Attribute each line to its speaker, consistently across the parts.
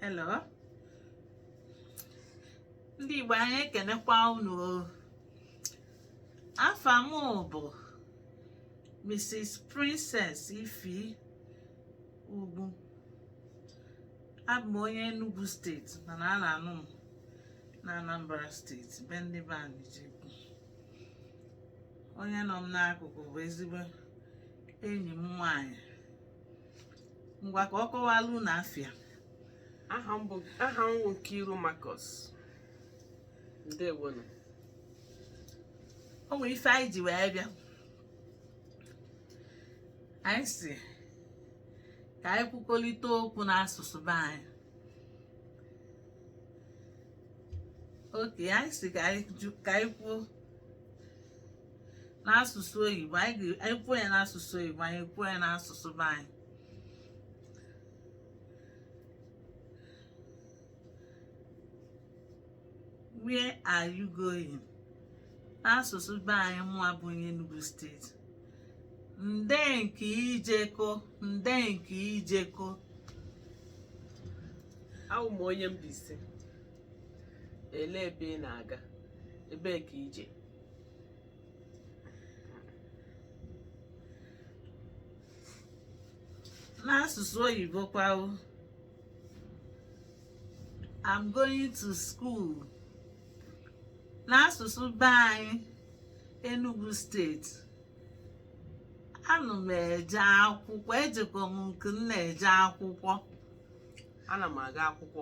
Speaker 1: hello ndị Igbo anyị ekenekwa unu afa m bụ Mrs. Princess Ify Ugwu abụ m onye Enugu steeti mana a na-anụ m na Anambra steeti be ndị be anyị onye nọ m n'akụkụ bụ ezigbo enyi m nwaanyị ngwa ka ọ kọwalụ unu afa ya aha m wụ Nkiru Marcus ndewonu o nwere ife anyị ji wee bịa anyị sị ka anyị kwukọrịta okwu n'asụsụ be anyị okay anyị sị ka anyị ju- ka anyị kwuo n'asụsụ oyibo anyị kwuo ya n'asụsụ oyibo anyị kwuo ya n'asụsụ be anyị where are you going n'asụsụ be anyị mụ abụ onye Enugu steeti nde nke i jeko nde nke i jeko awụ m onye Mbaise elee ebe ị na-aga ebee ka i je n'asụsụ oyibo kwa o I'm going to school n'asụsụ be anyị Enugu steeti anụ m eje akwụkwọ ejeko m nke m na-eje akwụkwọ ana m aga akwụkwọ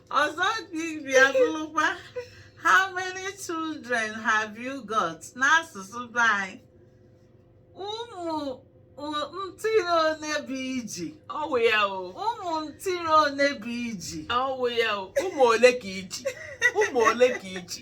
Speaker 1: ọzọ ibe ya bụrụkwa how many children have you got n'asụsụ be anyị ụmụ ntiri one bụ i ji ọ wụ ya o ụmụ ntiri one bụ i ji ọ wụ ya o ụmụ ole ka i ji ụmụ ole ka i ji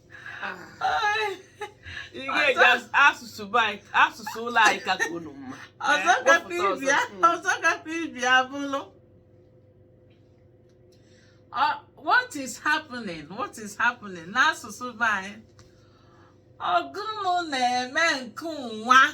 Speaker 1: Ị ga-eji as- asụsụ be anyị- asụsụ ụlọ anyị ka ka unu mma ọzọ Eh, gakwa wepụta ibi ọzọ. Mm. ọzọ gakwa ibe ya bụlụ Ọ- what is happening what is happening n'asụsụ be anyị ọ gụnụ na-eme nke nwa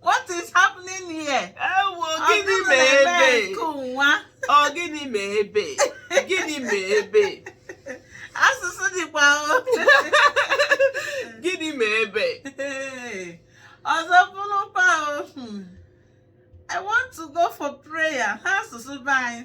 Speaker 1: What is happening here? Ewo gịnị me ebe? Ọ gịnị me ebe? Gịnị me ebe? Asụsụ dịkwa o. Gịnị me ebe? Ọzọ bụrụkwa o. Hmm. I want to go for prayer. N'asụsụ be anyị.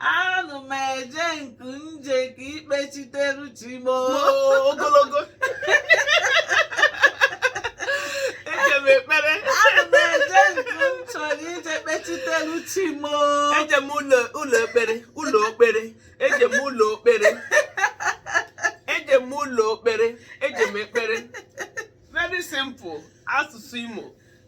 Speaker 1: anụ m eje nke nje ka ikpechiteru chi m oo. ogologo eje m ekpere anụ m eje nke m chọrọ ije kpechiteru chi m oo. eje m ụlọ ụlọ ekpere ụlọ okpere eje m ụlọ okpere eje m ụlọ okpere eje m ekpere very simple asụsụ imo